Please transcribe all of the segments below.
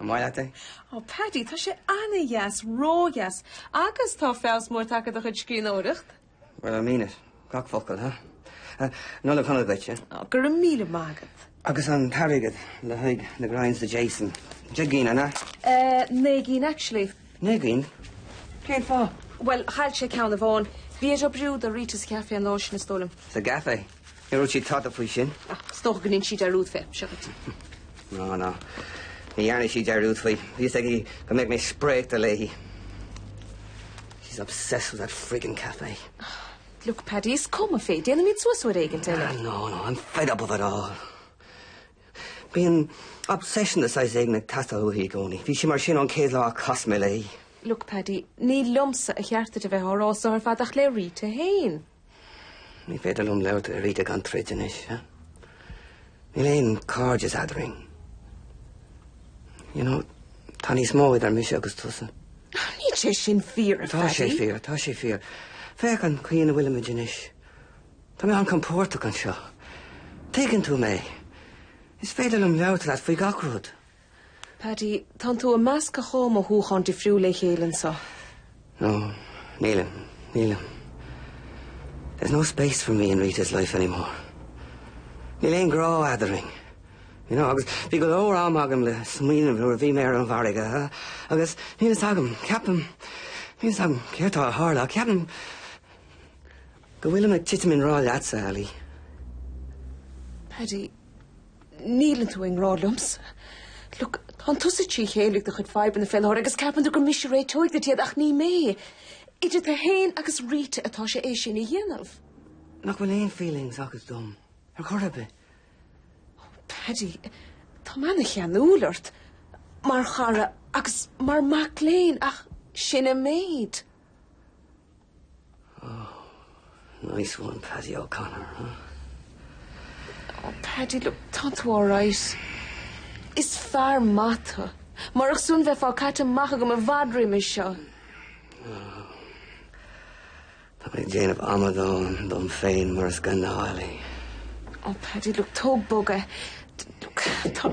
An maith leat é? Ó Paddy, tá sé ana-dheas, ró-dheas. Agus tá feabhas mór tagtha ar do chuid scríbhneoireacht. Well I mean it. Gach focal, ha? Ha, Nollaig Shona duitse. Ó, go raibh míle maith agat. Agus an t-airgead le haghaidh na grinds do Jason? Deich gcinn, an ea? Eh, naoi gcinn actually. Naoi gcinn? Cén fáth? Well, chaill sé ceann amháin. Bhí air oibriú do Rita sa chafé an lá sin, is dóigh liom. Sa gcafé? Níor dhúirt sí tada faoi sin. Ach is dócha gur dhein sí dearúd fé, seo dhuit. No, no. Ní dhearna sí dearúd faoi. Bhí fhios aici go mbeadh mé spréachta léi. She's obsessed with that friggin café. Look, Paddy, is cuma fé. Déanfaimid suas uair éigin eile. No, no, no. I'm fed up of it all. Bíonn obsession de saghas éigin ag teastáil uaithi i gcónaí. Bhí sí mar sin ón chéad lá a chas mé léi. Look, Paddy, ní liomsa ba cheart duit bheith á rá so ar fad ach le Rita fhéin. Ní féidir liom labhairt le Rita gan troid anois. Níl aon cairdeas eadrainn. You know, tá níos mó idir mise agus tusa. Níl sé sin fíor, a Pheaidí. Tá sé fíor, tá sé fíor. Féach an chaoi ina bhfuilimid anois. Tá mé an-chompordach anseo. Tuigeann tú mé. Is féidir liom labhairt leat faoi gach rud. Paddy, tánn tú ag meascadh dhá mhothúchán difriúil le chéile anseo. No, nílim, nílim. There's no space for me in Rita's life anymore. Níl aon grá eadrainn. You know, agus bhí go leor am agam le smaoineamh nuair a bhí mé ar an bhfarraige agus níl fhios agam, ceapaim, níl fhios agam céard tá a tharla ach ceapaim, Go bhfuilim ag titim i ngrá leatsa, Ali. Paddy, níleann tú i ngrá liomsa. Look, tánn tusa trí chéile ag do chuid fadhbanna fé láthair agus ceapann tú gur mise a réiteoidh duit iad ach ní mé. Idir tú fhéin agus Rita atá sé é sin a dhéanamh. Nach bhfuil aon feelings agat dom ar chor ar bith? Oh, Paddy, tá mé ana-cheanúil ort, mar chara agus mar mac léinn ach sin an méid. Oh, nice one Paddy O'Connor, huh? Oh Paddy, look, tánn tú alright. Is fear maith tú. Murach sin bheifeá caite amach agam i bhfad roimis seo. Oh. Tá mé ag déanamh amadán dom féin mar is gnáth, Ali. Oh Paddy, look, tóg bog é. Look, tá...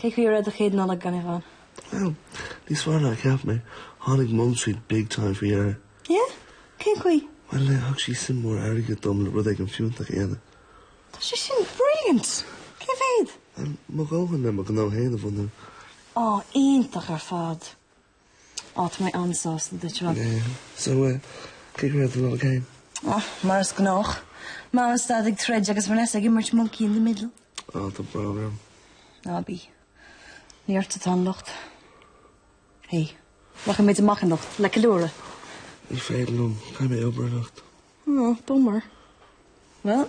Cén chaoi a raibh do chéad Nollaig gan Yvonne? Well, níos fearr ná a cheap mé. Tháinig Mum tríd big time faoi dheireadh. Yeah? Cén chaoi? Well, eh, thug sí suim mhór airgid dom le rud éigin fiúntach a dhéanamh. Tá sé sin brilliant! Cé mhéad? Well, mo dhóthain le mo ghnó féin a bhunú. Á, iontach ar fad! Á tá mé an-sásta duit a Rob. Yeah, so uh, keep your head in the game. Oh, mar is gnách. Mam is Dad ag troid agus Vanessa ag imirt monkey in the middle. Oh, tá brón orm. Ná bí. Ní ort atá an locht. Hey, rachaimid amach anocht, le ceiliúradh. Ní féidir liom, caithfidh mé obair anocht. Oh, bummer. Well.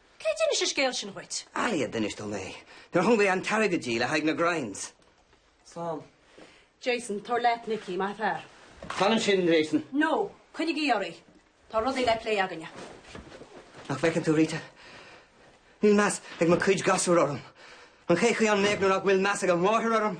Cé d'inis an scéal sin dhuit? Ali a d'inis dom é. Nuair a thug mé an t-airgead di le haghaidh na grinds. Slán. Jason, Tabhair leat Nicky, maith fear. Fan ansin, Jason. No, coinnigí oraibh. Tá rudaí le plé againne. Nach bhfeiceann tú, Rita? Níl meas ag mo cuid gasúr orm. Ach cén chaoi a mbeadh nuair nach bhfuil meas ag an máthair orm?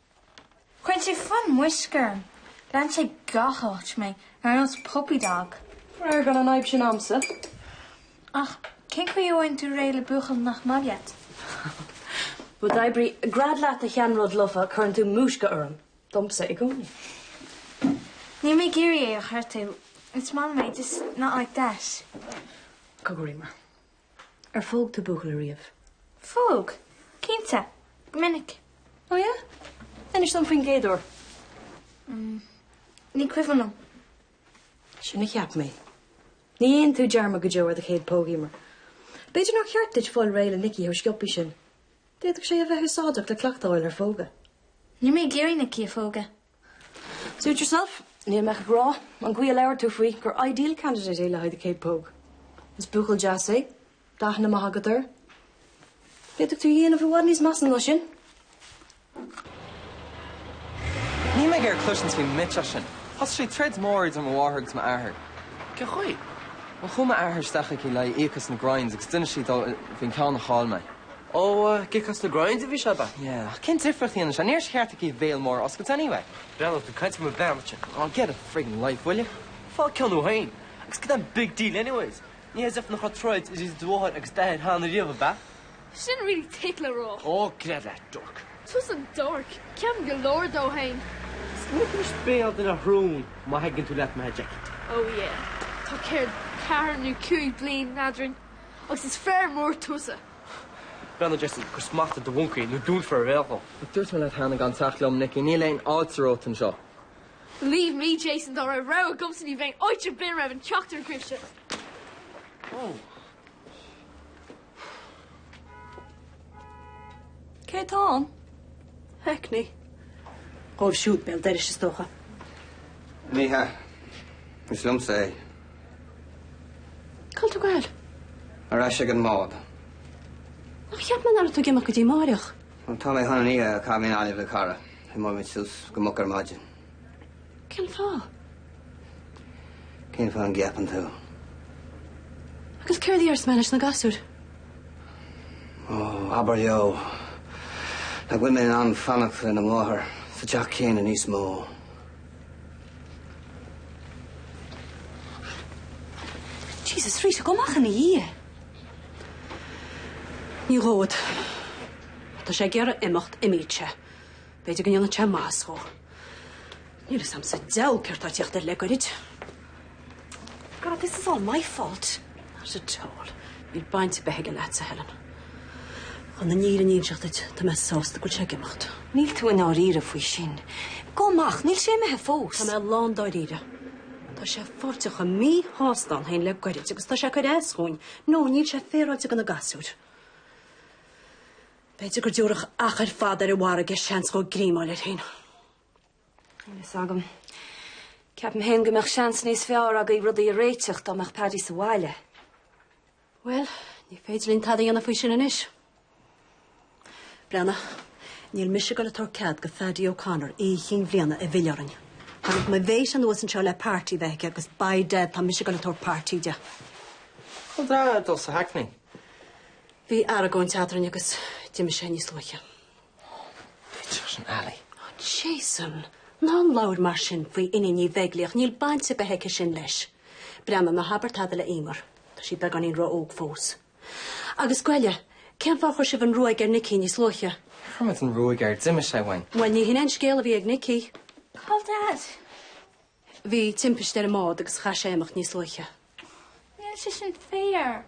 Cuireann sé fonn múisce orm. Leanann sé gach áit mé, ar nós puppy dog. Faraor gan an fhadhb sin a'msa. Ach cén chaoi a bhfaigheann tú réidh le buachaill nach maith leat? Bhuel, d'oibrigh gread leat a sheanrud lofa, cuireann tú múisc orm. Domsa i gcónaí. Níl mé ag iarraidh é a ghortú. Is maith liom é, just not like that. Cogar Emer. Ar phóg tú buachaill ariamh? Phóg? Cinnte, go minic. Ó yeah? Inis dom faoin gcéad uair. Umm, ní cuimhin liom. Sin a cheap mé. Ní dhéanann tú dearmad go deo ar do chéad póg, Emer. B'fhéidir nár cheart duit fáil réidh le Nicky chomh sciobtha sin. D'fhéadfadh sé a bheith úsáideach le cleachtáil ar phógadh. Níl mé ag iarraidh Nicky a phógadh. Suit yourself, níl mé ach ag rá, ón gcaoi a labhair tú faoi, gur ideal candidate é le haghaidh do chéad póg. Is buachaill deas é, tá aithne maith agat air. D'fhéadfadh tú dhéanamh i bhfad níos measa ná sin. Níl mé ag iarraidh cloisint faoin mbitseach sin. Thosaigh sí troid mhór idir mo mháthair agus m'athair. Cén chaoi? Bhuel, chuaigh m'athair isteach aici le híoc as na grinds agus d'inis sí dó faoin gceann a chaill mé. Ó, ag íoc as na grinds a bhí sé, ab ea? Yeah, ach cén difríocht a dhéanann sé? Níor cheart di a béal mór a oscailt anyway. Bhuel tá tú ag caint ar mo bheannairde. Aw, get a friggin life, will you? Faigh ceann thú féin. Agus cad é an big deal anyways? Ní as if nach raibh troid idir do mháthair agus d'athair cheana riamh, ab ea? Sin really thick le rá. Ó, gread leat, dork. Tusa an dork. Ceapaim go leor dó féin. Smaoinigh tú leis béal de na rún má thuigeann tú leat, má theigh. Ó, yeah. Tá céard, ceathair nó cúig bliain eadrainn. Agus is fear mór tusa. B'fhéidir, a Jason, cuir smacht ar do mhoncaí nó dúnfar a bhéal dhó. Ach dúirt mé leat cheana gan teacht liom, Nicky, níl aon fháilte romhat anseo. Believe me, Jason, dá raibh rogha agamsa ní bheinn áit ar bith a raibh an ceachtar agaibhse. Cé tá ann? Hackney. Dhóibh siúd béal dorais is dócha. Ní hea. Is liomsa é. Cáil tú ag goil? Ar ais ag an mbád. Ach cheap mé ná raibh tú ag imeacht go dtí amáireach? Bhuel, tá mé chun an oíche a chaitheamh in Gaillimh le cara. Imeoidh muid suas go moch ar maidin. Cén fáth? Cén fáth an gceapann tú? Agus céard a déarfas mé leis na gasúir? Ó, abair leo nach bhfuil mé in ann fanacht lena mháthair sa teach céanna níos mó. Jesus Rita, gabh amach ina dhiaidh! Ní ghabhfad. Tá sé ag iarraidh imeacht imíodh sé. B'fhéidir go ndéanfadh sé maitheas dhó. Níl fhios a'm sa deabhal céard tá ag tíocht air le goirid. God, this is all my fault. Not at all. Níl baint bith aige leatsa Helen. Chun an fhírinne a inseacht duit, tá mé sásta go bhfuil sé ag imeacht. Níl tú i ndáiríre faoi sin. Gabh amach, níl sé imithe fós. Tá mé lán dáiríre. Tá sé uafásach míshásta ann féin le goirid agus tá sé ag cur as dhúinn. No, níl sé féaráilte do na gasúir. B'fhéidir go dtiúrfadh achar fada ar an bhfarraige seans dhó greim a fháil air féin. Níl fhios agam. Ceapaim féin go mbeadh seans níos fearr agaibh rudaí a réiteach dá mbeadh Paddy sa bhaile. Bhuel, ní féidir linn tada dhéanamh faoi sin anois. Breathnaigh, níl mise ag goil ag tabhairt cead do Phaddy O'Connor Oíche Chinn Bhliana a mhilleadh orainn. Tháinig mo Bhaibs anuas anseo le party bheith aici agus by dad tá mise ag goil ag tabhairt party di. Cáil Daid? Ag dul sa hackney. Bhí aragóint eadrainn agus d'imigh sé níos luaithe. Faoi Dr Nally. Jason, ná labhair mar sin faoi Iníon Ní Bheaglaoich, níl baint ar bith aici sin leis. Breathnaigh, ná habair tada le Eimear, tá sí beagáinín ró-óg fós. Agus goile, cén fáth a chuir sibh an ruaig ar Nicky níos luaithe? Níor chuir muid an ruaig air, d'imigh sé uainn. Bhuel, ní hin an scéal a bhí ag Nicky. Cáil Daid?. Bhí timpiste ar an mbád agus chaith sé imeacht níos luaithe. Níl sé sin fair.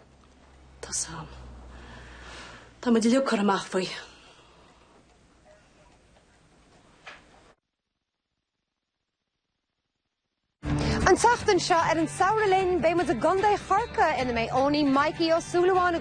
Tá fhios a'm. Tá muid uilig curtha amach faoi. An tseachtain seo ar An Samhradh Linn beidh muid i gContae Chorcaí ina mbeidh Eoiní Mikey Ó Súilleabháin,